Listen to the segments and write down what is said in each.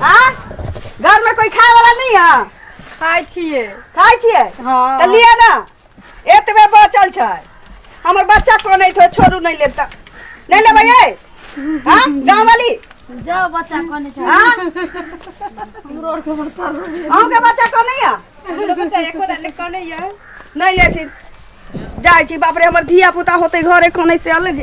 हाँ घर में कोई खाए वाला नहीं है खाइ छियै खाए छिए हाँ। तो लिए ना एतबे बचल छै हमर बच्चा को नहीं थो छोड़ू नहीं लेब त नहीं लेबै ये हाँ गाँव वाली जाओ बच्चा कने छै हाँ हमरो आर के बच्चा लोग अहूँ के बच्चा को नहीं है बच्चा एको डाले कने या नहीं लेथिन जाइ छी बाप रे हमर धिया पुता होते घरे कने से अलग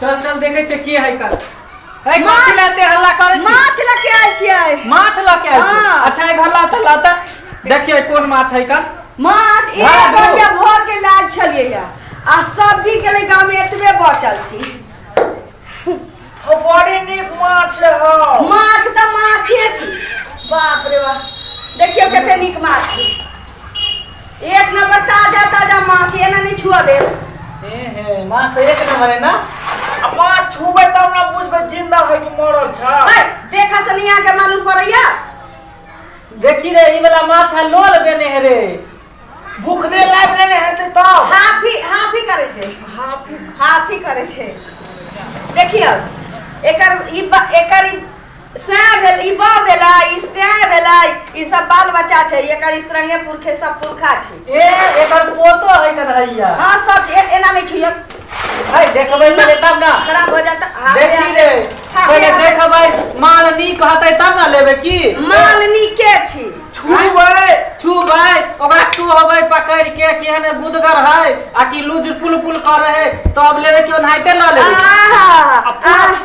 चल चल देखे छे की है कर ए माछ- कथी लाते हल्ला करे छी माछ लऽ के आयल छियै माछ ल के आइल छी। हाँ। अच्छा एक हल्ला त लाता देखिए कोन माछ है कर माछ एक हाँ, दू। बजे भर के लायल छलियै या आ सब्जी के लिए गाँव में एतबे बचल छी ओ बड़ी नीक माछ है माछ तऽ माछे छी बाप रे बाप देखियौ कते नीक माछ छी एक नंबर ताजा ताजा माछ ये ना नहीं छुआ दे हे हे माछ तऽ एक नंबर है ना आ माछ छूबै तब ना बुझबै जिंदा है कि मरल छै है, देखा सनिया के मालूम पड़ैया देखी रे ई वाला माछ है लोल देने है रे भूखले लाइफ लेने हेतै तब हाफी हाफी करे छे हाफी हाफी करे छे देखियो एकर ई बा- एकर ई सएह भेल ई बा भेलै ई सएह भेलै ई सब बाल बच्चा छै एकर स्त्रंगे पुरखे सब पुरखा छै ए एकर पोतो है कन्हैया हाँ सब ए- एना नहीं छुइयो भाई देखबै पहिले तब ना खराब हो जाता हाँ, देखी हाँ, रे हाँ, पहिले हाँ, देखबै माल नी कहतै तब ना लेबै की मालनी के छी छुबै छुबै ओकरा टोहबै पकड़ के केहन गुदगर है आ कि लुज पुल पुल करे है तब लेबै केओ नाहिते ना लेबै आहा, आ पूरा- आहा।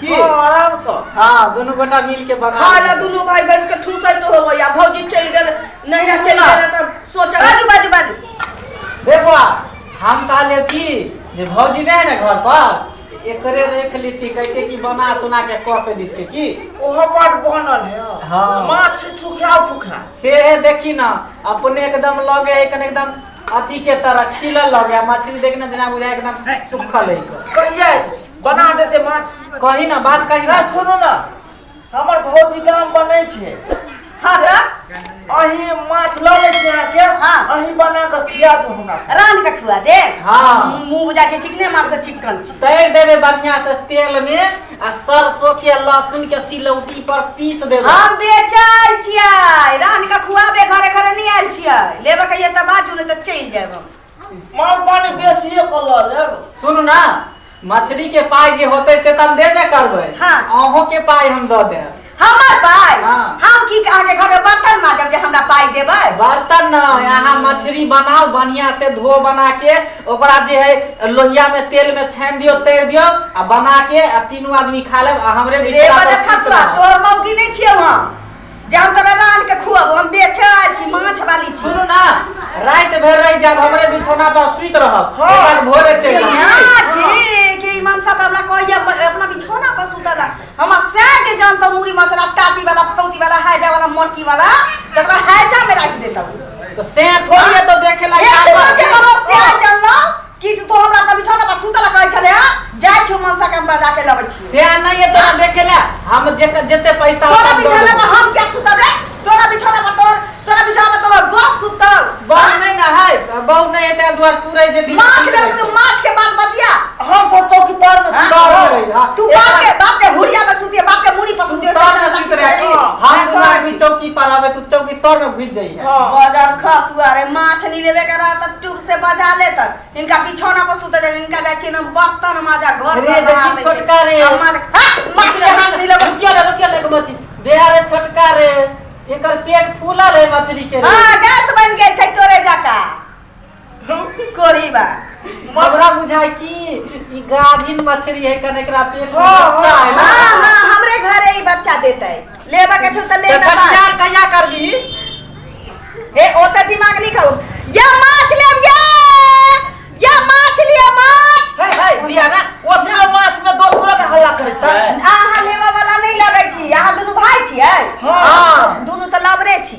की हँ, आराम सँ हँ दुनू गोटा मिल के बना खा ले दुनू भाई बैस के ठूसैत होबै आ भौजी चलि गेल नहिरा चलि गेल तऽ सोचब बाजू बाजू बाजू बेबुआ हम कहलियै कि जे भौजी नहि है ने घर पर एकरे रख लेती कहते कि बना सुना के कऽ के देते की ओहो बड़ बनल है हँ। माछ छुखा फुखा से है देखी ना अपने एकदम लगे है कने एकदम अथी के तरह खिलल लगे है। मछली देखना जेना बुझाय एकदम सुखल है कहिया बना देते माछ कही ना बात कही ना सुनू ना हमर भौजी काम बनै छै हाँ तऽ अही माछ लऽ लै छी अहाँके हाँ। अही बना कऽ खिया दू हमरा सबके। रान के खुआ दे हाँ। मुंह बुझा छै चिकने मार से चिकन छी तैर देबे बढ़िया से तेल में आ सरसों के आ लहसुन के सिलौटी पर पीस देबे हम बेचल छियै रान के खुआबे घरे घरे नहीं आयल छियै लेबे कहिए तऽ बाजू नहीं तऽ चलि जायब हम माल पानी बेसिए कऽ लऽ लेब सुनू ना मछली के पाई जे होते से त हम देबे करबै हाँ। अहों के पाई हम दऽ देब हमर पाइ हाँ। हम की अहाँके घर में बर्तन माजब जे हमरा पाइ देबै बर्तन न यहाँ मछली बनाओ बढ़िया से धो बना के ओकरा जे है लोहिया में तेल में छान दियो तैर दियो आ बना के आ तीनों आदमी खा लेब आ हमरे रे बीच में बड़ा आपस में खसुआ बनाओ। तोहर मौकी नहीं छियौ हम जाओ तोरा रान के खुआब हम बेचे आयल छी माछ वाली छी सुनू ना रात भर रह जाब हमरे बिछौना पर सुत रहब हाँ। एक बार भोरे चल जाब। यहाँ की की मनसा तो हमरा कहिया ब- अपना बिछौना पर सुतल है। हमर से के जान तो मुरी मचरा टाटी वाला फौती वाला हैजा वाला मोरकी वाला तकरा हैजा में राख देता हूँ तो से थोड़ी है तो देखे ला एक रोज हमर से चललो की तू हमरा के बिछौना पर सुतल कहै छले ह जाय छियो मनसा के हमरा जाके लबै छियो से आ नहीं है तोरा देखे ला हम जे जते पैसा तोरा होता हम दो बिछौना देबो। पर हम क्या सुतब रे तोरा बिछौना पर तोर तोरा बिछौना पर तोर बाप सुतल बहू नहीं ना है बहू नहीं है तेरा द्वार तू रह जे दिन माछ ले तू माछ के बात बतिया हम सब चौकी तर में हाँ? सुता दौड़ रहे। रही हाँ। तू एक बाप बार- के बाप के हुड़िया में सुतिए बाप के मुड़ी पर तू सुतिए तर में सुत रहे कि हम तू आदमी चौकी पर आवे तू चौकी तर में घुस जाइए हाँ। बदर खसुआ रे माछ नहीं लेवे के रहा त तू से बजा ले तक इनका बिछौना पर सुते दे इनका जाय छिन हम बर्तन माजा घर रे में बहा देखी दे छोटका रे। हम माज हा माछ के हाथ नहीं लगो रुकिया ले रुकिया ले मछली बेहा रे छोटका रे एकर पेट फूलल है मछली के रे हां गैस बन गेल छै तोरे जका कोरी बा हमरा बुझाय कि ई गाभिन मछली है कने एकरा पेट में हाँ, बच्चा है ना। हां हां हमरे घरे ई बच्चा देतै लेबा के छौ त ले ना बात। खटियार कहिया करबी ए ओ त दिमाग नहीं खाओ या माछ ले या या माछ लिया माछ है है दिया ना ओते माछ में दो सौ के हल्ला करे छै आहा लेबा वाला नहीं लगै छी आहा दुनु भाई छी है हां दोनों तो लबरे छी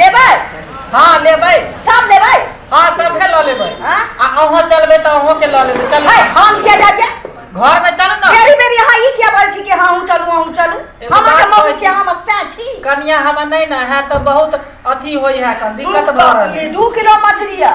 लेबै हाँ लेबै सब लेबै हाँ सबके लऽ लेबै हाँ? आ अहाँ चलबै तऽ अहाँ के लऽ लेबै चल है हम किया जाइए घर में चल ना मेरी मेरी हाँ ई किया बोल छी कि हाँ हूँ चलू हूँ चलू एगो हम बात के मौगी कहै छी छी। हम सै छी कनिया हम नहीं ना है तो बहुत अथी होई है कन दिक्कत भऽ रहल है दू किलो मछली है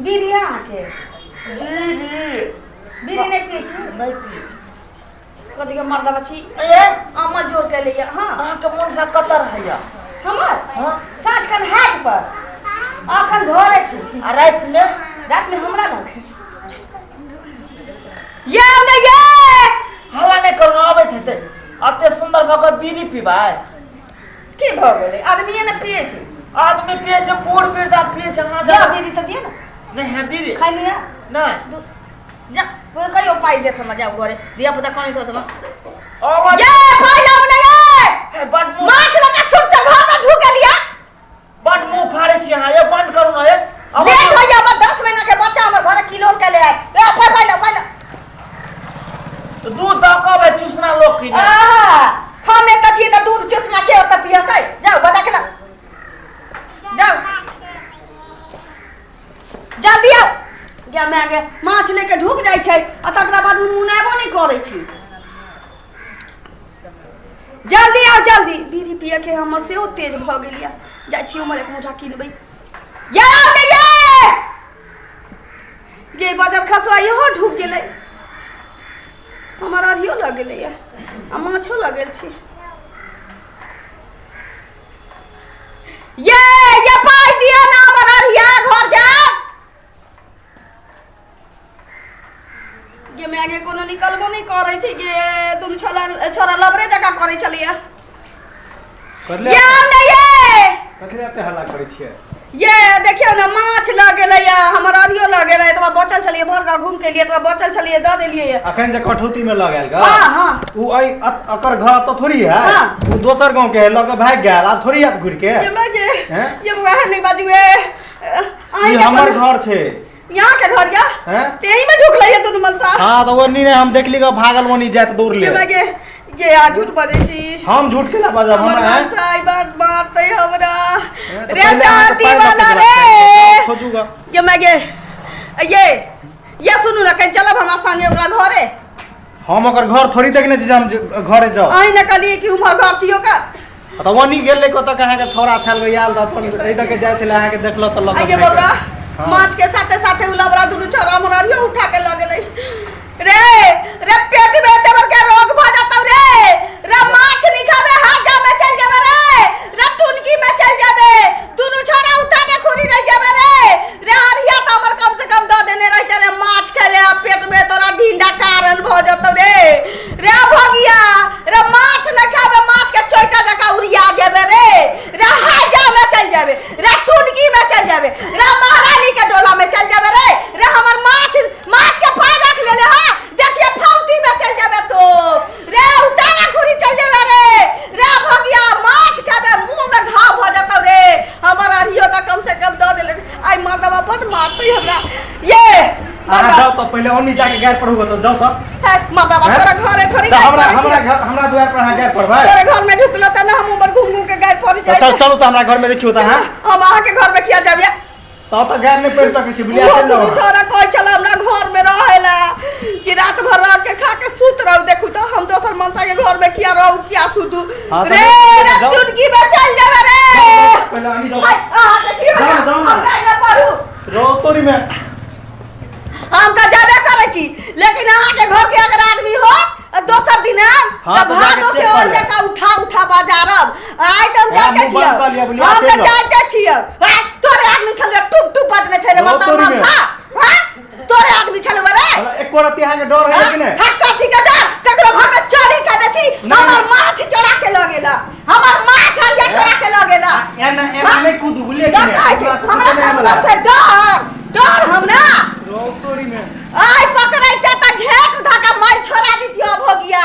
बीड़ी है अहाँके बीड़ी बीड़ी नहि पिए छी नहि पिए छी कथी के मर्दा बच्ची ए अम्मा जोर के लिए हाँ अहाँके मोन सा कतर हैया हमर हाँ। साँझ खन हाट पर अखन घरे छी आ रात में रात में हमरा लग ये हमरा ये हल्ला नहि करू अबैत हेतै अते सुंदर भऽ कऽ बीड़ी पीबै की भऽ गेलै आदमी ने पिए छै आदमी पिए छै बूढ़ वृद्धा पिए छै अहाँ या बीड़ी तऽ दिए ने नहि है बीड़ी खाइ लिअ नहि जा कहियो पाइ देत हमरा जाउ घरे धिया पुता कनि तो तमा आवाज जा पाइ लाउ ने ये बड माछ लगा सुर से घर में ढुक गेलिया बड मुंह फाड़े छी अहाँ ये बंद करू ना ये लेट होइए हमर दस महीना के बच्चा हमर घरे किलोन के ले आयल ए फल फल फल दूध द के बे चूसना लोग की ने आहा हम एक छी त दूध चुसना के ओत पियतै जाओ बजा के ला जाओ जल्दी आओ गया मैं आगे माछ लेके ढुक जाइ छै आ तकरा बाद मुनमुनाबो नहि करै छी जल्दी आउ जल्दी बीड़ी पिए के हमर सेहो तेज भऽ गेल यऽ जाइ छी हमर एक मुठा किनबै ये आउ ने ये ये बदर खसवा इहो ढुक गेलै हमर अरियो लग गेलै यऽ आ माछो लग गेल छी ये ये पाइ दिअ ने हमर अरिया घर जाएब ये मैं आगे कोनो निकलबो नहीं करे छी ये तुम छोरा छोरा लबरे जका करे छलिए करले ये आउ ने ये कथी रहते हल्ला करै छियै ये देखियो ना माछ लग गेलै या हमर अरियो लग गेलै तो बचल छलिए भर घर घूम के लिए तो बचल छलिए द देलिए ये अखन जे कठौती में लग आयल ग हां हां उ अइ अत- अकर घर तो थोड़ी है हाँ। उ दोसर गांव के है लग के भाग गेल आब थोड़ी आत घुर के ये मैं ये हैं? ये वह नहीं बाजू है आई ई के हमर अपन- घर छै यहाँ के घर या हैं तेही में ढुक लइए दुनु मन सा हां तो ओनी ने हम देखली का भागल ओनी जात दूर ले हमरा के ये आ झूठ बजे छी हम झूठ के ला बाजा हमर हमरा मन हैं सा ई बात मारते हमरा हैं, तो रे पहले अहाँ के दादी पैर वाला लपट रे जाओ, खोजूगा ये मैं के ये ये सुनू ना कहीं चलब हमरा संगे ओकरा घरे हम ओकर घर थोड़ी देखने छी जे हम जे- घरे जाओ आई ना कहलिए कि उमर घर छियो का तऽ वनी गेल ले कतऽ कहाँ के छोरा छल गई आल तऽ अपन एहि दऽ के जाइ छले अहाँ के देखल तऽ लग आइए बौआ हाँ। माछ के साथे साथे उ लबरा दुनू छोरा हमरा रियो उठा के लग गेलै रे रे पेट में देवर के रोग भ जातौ रे रे माछ नहीं खाबे हाजा में चल जाबे रे रे टुनकी में चल जाबे दुनू छोरा उठा के खुरी रह जाबे रे रे हरिया त हमर कम से कम द देने रहते रे माछ खेले आ पेट में तोरा ढींडा कारण भ जातौ रे रे भगिया रे माछ न खाबे माछ के चोइटा जका उड़िया जेबे रे रे हाजा में चल जाबे रे टुनकी में चल जाबे रे महारानी के डोला में चल जाबे रे रे हमर माछ माछ के पाय रख लेले हा देखिए फौती में चल जाबे तो रे उतारा खुरी चल जाबे रे रे भगिया माछ खाबे मुंह में घाव भ जतौ रे हमर अरियो त कम से कम द देले आई मर्दवा बड मारते हमरा ये अहाँ मर्दवा जाउ तऽ पहिले ओनी जाके गैर पर होगा तऽ जाउ तऽ है, मर्दवा हैं? तोरा घरे थोड़ी तऽ गाय हमरा पड़ै हमरा छै घर- हमरा दुआर पर अहाँ गैर पर भाई तोरा घर में ढुकलो त ना हम ऊपर घूम घूम के गाय पड़ तऽ जाय सर चलू तऽ हमरा घर में देखियो तऽ अहाँ हम अहाँ के घर में किया जाबिया तऽ तऽ गैर नहि पड़ि सकै छी बुलिया चलि जाउ अहाँ। छोरा कहै छल हमरा घर में रहे ला कि रात भर रह के खा के सुत रहू देखू तो हम दोसर मनता के घर में किया रहू किया सुतू हां रे रख चुटकी में चल जा रे पहले आनी जाओ हाय हां तो की बता हम काहे ना पढ़ू रो तोरी में हम का जाबे करे छी लेकिन अहाँ के घर के अगर आदमी हो दोसर दिन हम हाँ, तो भादो के ओर जका उठा उठा बाजारब आइ त हम जाके छिय हम त जाके छिय तोरे आदमी छले टुप टुप बदने छै रे मतलब मन था तोरे आदमी छले बरे साला एको रति अहाँ के डर है कि नहीं हट कथी के डर ककरो घर में चोरी कर दे छी नहीं, हमर नहीं। माछ चोरा के ल गेला हमर माछ हरिया चोरा के ल गेला एना एना हाँ? नहीं कूद बुले कि डर नहीं कहै छै, हमरा हमरा से डर डर हम ना रोतोरी में आय पकड़ै ते त घेट धका मार छोड़ा दितियो भोगिया